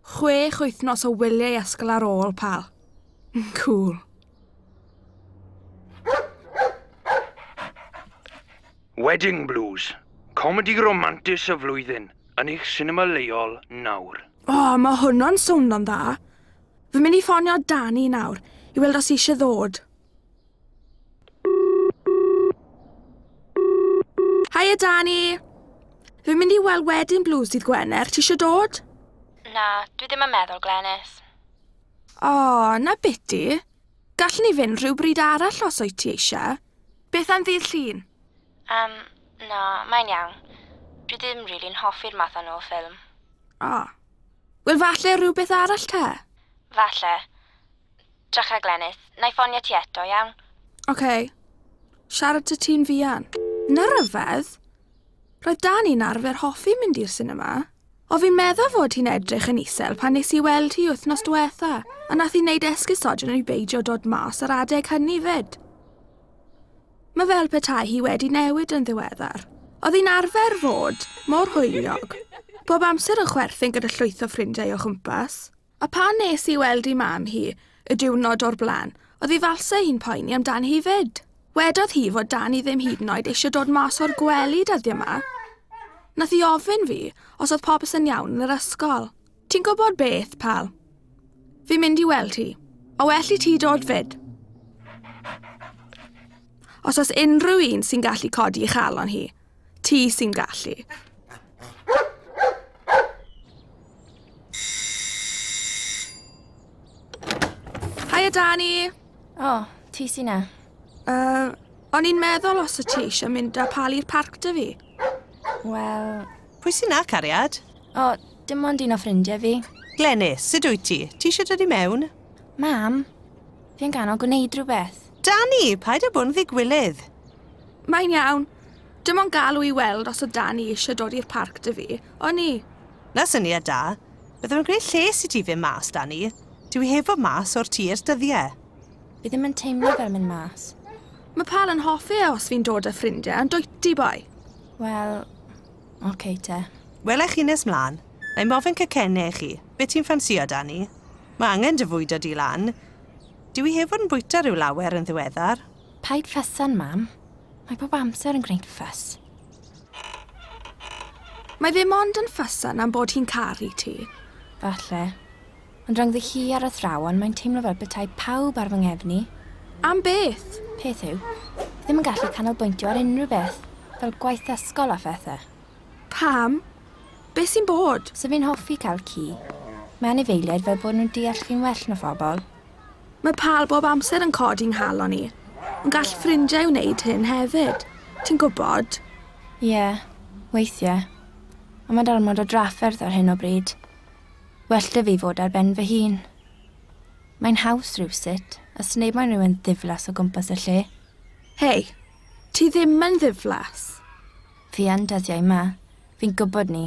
Chwech wythnos o wyliau ysgol ar ôl, pal. Cool. Wedding Blues, comedi romantis y flwyddyn, yn eich sinema leol nawr. O, oh, mae hwnnw'n swnio'n dda. Fy mynd i ffonio Dani nawr, i weld os eisiau ddod. Hiya, Dani! Fi'n mynd i weld wedyn Blues dydd Gwener. Ti eisiau dod? Na, dwi ddim yn meddwl, Glenys. O, oh, na biti. Gallwn ni fynd rhyw bryd arall os o'i ti eisiau. Beth am ddydd llun? Um, na, mae'n iawn. Dwi ddim rili'n really hoffi'r math yno o ffilm. O. Oh. Wel, falle rhywbeth arall te? Falle. Drycha Glenys, na i ffonio ti eto, iawn? Ok. Siarad ta ti'n fuan. Na ryfedd. Roedd Dani'n arfer hoffi mynd i'r sinema. O fi'n meddwl fod hi'n edrych yn isel pan nes i weld hi wythnos diwetha, a nath i wneud esgusodion i beidio dod mas ar adeg hynny fyd. Mae fel petai hi wedi newid yn ddiweddar. Oedd hi'n arfer fod mor hwyliog. Bob amser yn chwerthin gyda llwyth o ffrindiau o chwmpas. A phan nes i weld i mam hi y diwrnod o'r blaen, oedd ei falsau hi'n poeni amdani hi 'fyd. Wedodd hi fod Dani ddim hyd yn oed eisiau dod mas o'r gwely dyddiau 'ma. Nath hi ofyn fi os oedd popeth yn iawn yn yr ysgol. Ti'n gwybod beth, pal? Fi'n mynd i weld hi. A well i ti dod 'fyd. Os oes unrhyw un sy'n gallu codi ei chalon hi, Ti sy'n gallu. Haia, Dani. O, oh, ti sy'n na. Uh, O'n i'n meddwl os y ti eisiau mynd â pal i'r parc dy fi. Wel... Pwy sy'n na, cariad? O, dim ond un o ffrindiau fi. Glenys, sut wyt ti? Ti eisiau dod i mewn? Mam, fi'n ganol gwneud rhywbeth. Dani, paid â bod yn ddigwylydd. Mae'n iawn. Dim ond galw i weld os o dan i eisiau dod i'r parc dy fi, o'n i? Na syniad da. Byddaf yn gwneud lles i ti fyn mas dan i. Dw i heb fod mas o'r tŷ ers dyddiau. Fi ddim yn teimlo fel mynd mas. Mae Pal yn hoffi e os fi'n dod â ffrindiau, yn dwyt ti, boi? Wel, oce okay te. Wela i chi nes mlaen. Na i mofyn cacenne i chi. Be ti'n ffansio dan i? Mae angen dy fwydo di lan. Dw i heb fod yn bwyta rhyw lawer yn ddiweddar. Paid ffysa'n mam. Mae bob amser yn gwneud ffys. Mae fe mond yn ffysa'n am bod hi'n caru ti. Falle. Ond rhyngddi hi ar athrawon, mae'n teimlo fel bethau pawb ar fy ngefn i. Am beth? Peth yw, fi ddim yn gallu canolbwyntio ar unrhyw beth, fel gwaith ysgol a phethau. Pam? Be sy'n bod? Sa fi'n hoffi cael ci. Mae anifeiliaid fel bod nhw'n deall fi'n well na phobl. Mae Pal bob amser yn codi 'nghalon i. Ond gall ffrindiau wneud hyn hefyd. Ti'n gwybod? Ie, weithiau. Ond mae'n ormod o drafferth ar hyn o bryd. Well 'da fi fod ar ben fy hun. Mae'n haws rhywsut, a sneb moyn rhywun ddiflas o gwmpas y lle. Hei, ti ddim yn ddiflas. Fi yn dyddiau 'ma. Fi'n gwybod 'ny.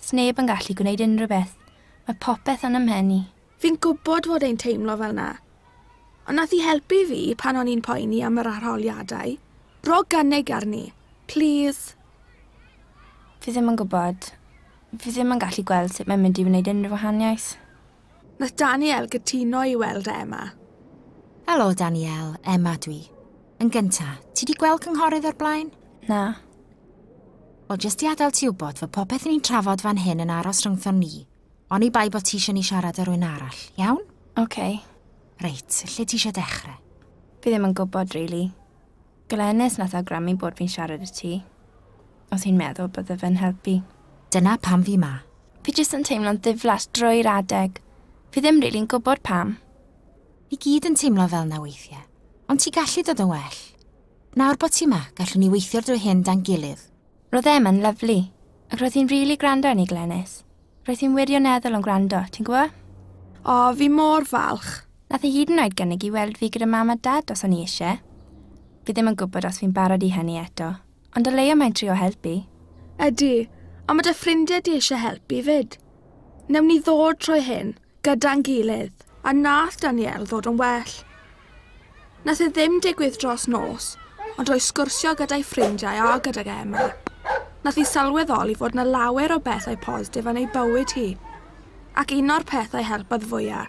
Sneb yn gallu gwneud unrhyw beth. Mae popeth yn 'y mhen i. Fi'n gwybod fod e'n teimlo fel 'na. Ond nath hi helpu fi pan o'n i'n poeni am yr arholiadau. Rho gynnig arni. Plîs. Fi ddim yn gwybod. Fi ddim yn gallu gweld sut mae'n mynd i wneud unrhyw wahaniaeth. Nath Danielle gytuno i weld Emma. Helo Danielle, Emma dwi. Yn gynta, ti di gweld cynghorydd o'r blaen? Na. Wel, jyst i adael ti wybod fod popeth ni'n trafod fan hyn yn aros rhyngthon ni. Oni bai bod ti eisiau ni siarad â rwy'n arall, iawn? Oce. Okay. Reit, lle ti eisiau dechrau? Fi ddim yn gwybod, really. Glenys nath awgrymu bod fi'n siarad i ti, os hi'n meddwl bydde fe'n helpu. Dyna pam fi 'ma. Fi jyst yn teimlo'n ddiflas drwy'r adeg. Fi ddim rili'n gwybod pam. Ni gyd yn teimlo fel 'na weithie. Ond ti gallu dod yn well. Nawr bod ti 'ma, gallwn ni weithio'r dwy hyn dan gilydd. Roedd Emma'n lyfli. Ac roedd hi'n rili gwrando arni, Glenys. Roedd hi'n wirioneddol yn gwrando, ti'n gwybod? O, fi mor falch. Nath hi hyd yn oed gynnig i weld fi gyda mam a dad os o'n i eisiau. Fi ddim yn gwybod os fi'n barod i hynny eto, ond o leia mae'n trio helpu. Ydy, a mae dy ffrindiau di eisiau helpu 'fyd. Newn ni ddod trwy hyn. gyda'n gilydd, a nath Danielle ddod yn well. Nath e ddim digwydd dros nos, ond o'i sgwrsio gyda'i ffrindiau a gydag Emma, nath i sylweddoli fod na lawer o bethau positif yn ei bywyd hi. Ac un o'r pethau helpodd fwya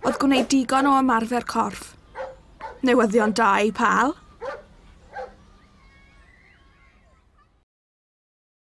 oedd gwneud digon o ymarfer corff. Newyddion da i pal!